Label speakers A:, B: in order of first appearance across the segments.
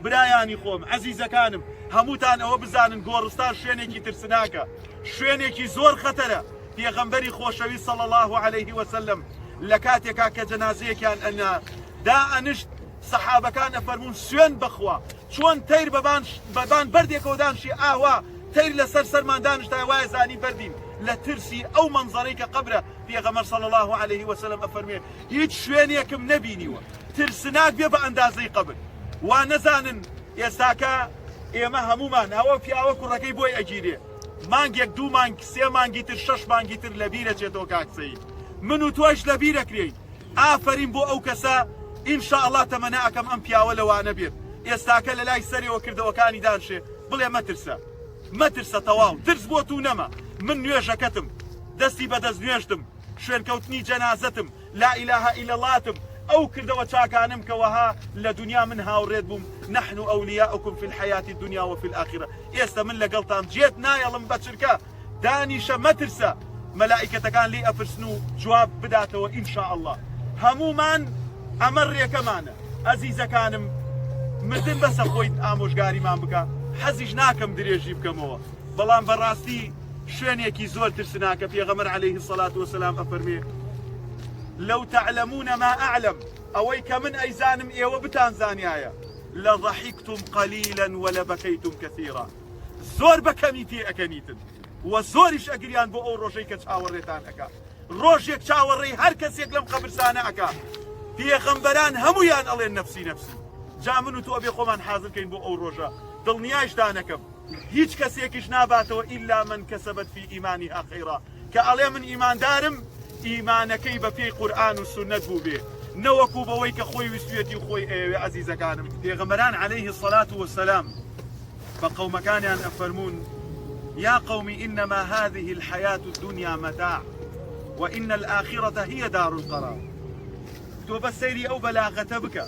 A: برایانی خۆم، ئەزیزەکانم، هەمووتان ئەوە بزانن گۆڕستان شوێنێکی ترسناکە، شوێنێکی زۆر خەتەرە، پێغەمبەری خۆشەویست صلی اللە علیه وسلم لە کاتێکا کە جەنازەیەکیان ئەنا دائەنشت سەحابەکان ئەفەرموون سوێند بەخوا چۆن تەیر بەبان بەبان بەردێکەوە دانشی ئاوا تەیر لەسەر سەرمان دانشتای وایە زانی بەردین لە ترسی ئەو مەنزەرەی کە قەبرە پێغەمبەر صلی اللە علیە و سلم ئەفەرموێ، هیچ شوێنێکم نەبینیوە ترسناک بێ بە ئەندازەی قەبر، وا نەزانن ئێستاکە ئێمە هەموومان ئەوە پیاوە کوڕەکەی بۆی ئەگیرێ مانگێک دوو مانگ سێ مانگی تر شەش مانگی تر لەبیرە چێتەوە کاک سەید من و تۆش لەبیرەکرێین ئافەرین بۆ ئەو کەسە ئینشاءاللە تەمەنە ئەکەم ئەم پیاوە لەوانە بێت ئێستاکە لە لای سەرەوە کردەوەکانی دانشێ بڵێ مەترسە مەترسە تەواو ترس بۆ توو نەما من نوێژەکەتم دەستی بە دەست نوێژتم شوێنکەوتنی جەنازەتم لا الە الا اللهتم ئەو کردەوە چاکانم کە وەها لە دنیا من هاوڕێت بووم نحن اولیاؤکم فی الحیات الدنیا وفی الاخرە ئێستە من لەگەڵتام جێت نایەڵم بە چرکە دانیشە مەترسە مەلائیکەتەکان لێی ئەپرسن و جواب بداتەوە ان شاء اللە هەموومان ئەمە رێکەمانە ئەزیزەکانم مردن بەسە خۆیت ئامۆژگاریمان بکە حەزیش ناکەم درێژی بکەمەوە بەڵام بەڕاستی شوێنێکی زۆر ترسناکە پێغەمبەر علیه الصلاة والسلام ئەفەرمێ لو تعلمون ما اعلم ئەوەی کە من ئەیزانم ئێوە بتان زانیایە لضحکتم قلیلا ولبکیتم کثیرا زۆر بە کەمی پێ ئەکەنیتن و زۆریش ئەگریان بۆ ئەو ڕۆژەی کە چاوەڕێتان ئەکا ڕۆژێک چاوەڕێی هەر کەسێک لەم قەبرسانە ئەکا پێغەمبەران هەمویان ئەڵێن نەفسی نەفسی جا من و تۆ بێ خۆمان حازرکەین بۆ ئەو ڕۆژە دڵنیایش دانەکەم هیچ کەسێکیش ناباتەوە ئیلا من کەسەبەت فی ئیمانیها خەیڕا کە ئەڵێ من ئیماندارم ئیمانەکەی بە پێی قورئان و سوننەت بووبێ نەوەکو بەوەی کە خۆی ویستویەتی و خۆی ئەیەوێ ئەزیزەکانم پێغەمبەران علیه الصلوة والسلام بە قەومەکانیان ئەفەرموون یا قوم انما هذه الحياة الدنيا متاع وان الاخرة هي دار القرار تۆ بە سەیری ئەو بەلاغەتە بکە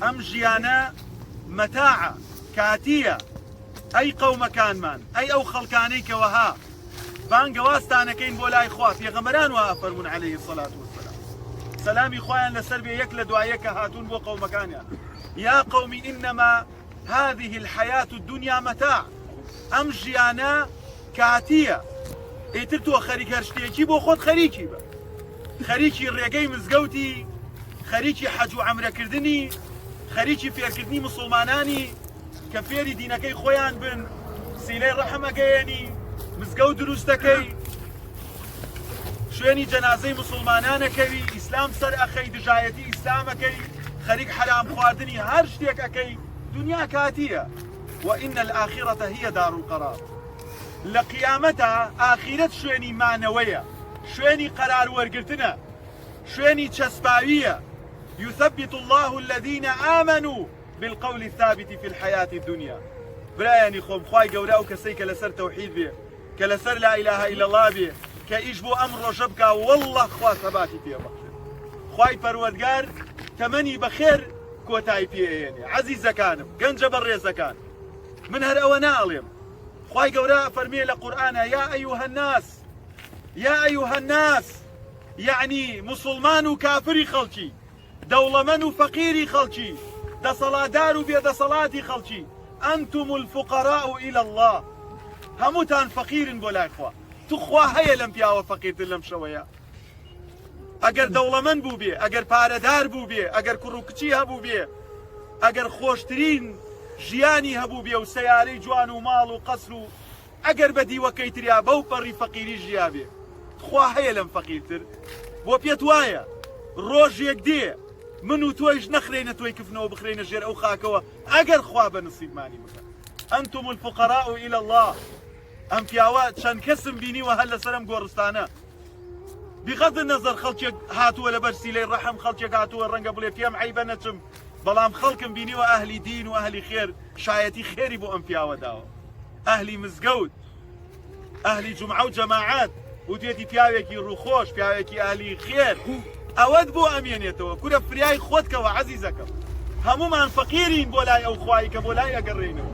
A: ئەم ژیانە مەتاعە کاتیە ئەی قەومەکانمان ئەی ئەو خەڵکانەی کەوەها بانگەوازتانەکەین بۆ لای خوا پێغەمبەران وا ئەفەرموون علیه الصلاة والسلام سەلامی خوایان لەسەر بێ یەک لە دوایە کە هاتوون بۆ قەومەکانیان یا قومی ئینەما هذه الحياة الدنيا متاع ئەم ژیانە کاتیە ئیتر تۆ خەریک هەر شتێکی بۆ خۆت خەریکی بە خەریکی ڕێگەی مزگەوتی خەریکی حەج و ئەمرەکردنی خەریکی فێرکردنی مسلمانانی کە فێری دینەکەی خۆیان بن سیلەی ڕەحم ئەگەیەنی مزگەوت دروست دەکەی شوێنی جەنازەی مسلمانانەکەوی ئیسلام سەر ئەخەی دژایەتی ئیسلامەکەی خەریک حەرام خواردنی هەر شتێک ئەەکەی دنیا کاتیە وئین الآخرەتە هیە دار و قەرار لە قیامەتە ئاخیرەت شوێنی مانەوەیە شوێنی قەرار وەرگتنە شوێنی چەسپاویە یثبت الله الذين آمنوا بالقول الثابت فی الحیاة الدنیا برایانی خۆم خوای گەورە ئەو کەسەی کە لەسەر تەوحید بێ کە لەسەر لا اله الا الله بێ کە ئیش بۆ ئەم ڕۆژە بکا والله خوا سەباتی پێ بەخشێ خوای پەروەردگار تەمەنی بەخێر کۆتای پێێنێ عەزیزەکانم گەنجە بە ڕێزەکان من هەر ئەوە ناڵێم خوای گەورە فەرمیێ لە قورآە یا ئەیوه الناس یا ئەیوه الناس یعنی مسلمان و کافری خەڵکی دەوڵەمەن و فەقیری خەڵکی، دەسەڵاتدار و بێدەسەڵاتی خەڵکی، انتم الفقراء الی اللە، هەمووتان فەقیرن بۆ لای خوا، توخوا هەیە لەم پیاوە فەقیرتر لەم شەوەیە؟ ئەگەر دەوڵەمەن بووبێ، ئەگەر پارەدار بووبێ، ئەگەر کوڕ و کچی هەبووبێ، ئەگەر خۆشترین ژیانی هەبووبێ و سەیارەی جوان و ماڵ و قەسر و ئەگەر بە دیوە کەیتریا بەو پەڕی فەقیری ژیابێ تخوا هەیە لەم فەقیرتر؟ بۆ پێت وایە ڕۆژێک دێ من و تۆیش نەخرێینە تۆی کفنەوە بخرێینە ژێر ئەو خاکەوە ئەگەر خوا بە نسیبمانی بکا انتم الفقراء الى الله ئەم پیاوە چەند کەسم بینیوە هەر لەسەر ئەم گۆڕستانە بغض النظر خەڵکێک هاتووە لە بەرسیلەی ڕەحم خەڵکێک هاتووە ڕەنگە بڵێ پێم عیبە نەچم بەڵام خەڵکم بینیوە ئەهلی دین و ئەهلی خێر شایەتی خێری بۆ ئەم پیاوە داوە ئەهلی مزگەوت، ئەهلی جومعە و جەماعەت، وتێتی پیاوێکی ڕووخۆش، پیاوێکی ئەهلی خێر، ئەوەت بۆ ئەمێنێتەوە، کورە فریای خۆت کەوە عەزیزەکەم، هەموومان فەقیرین بۆ لای ئەو خوایەی کە بۆ لای ئەگەڕێینەوە.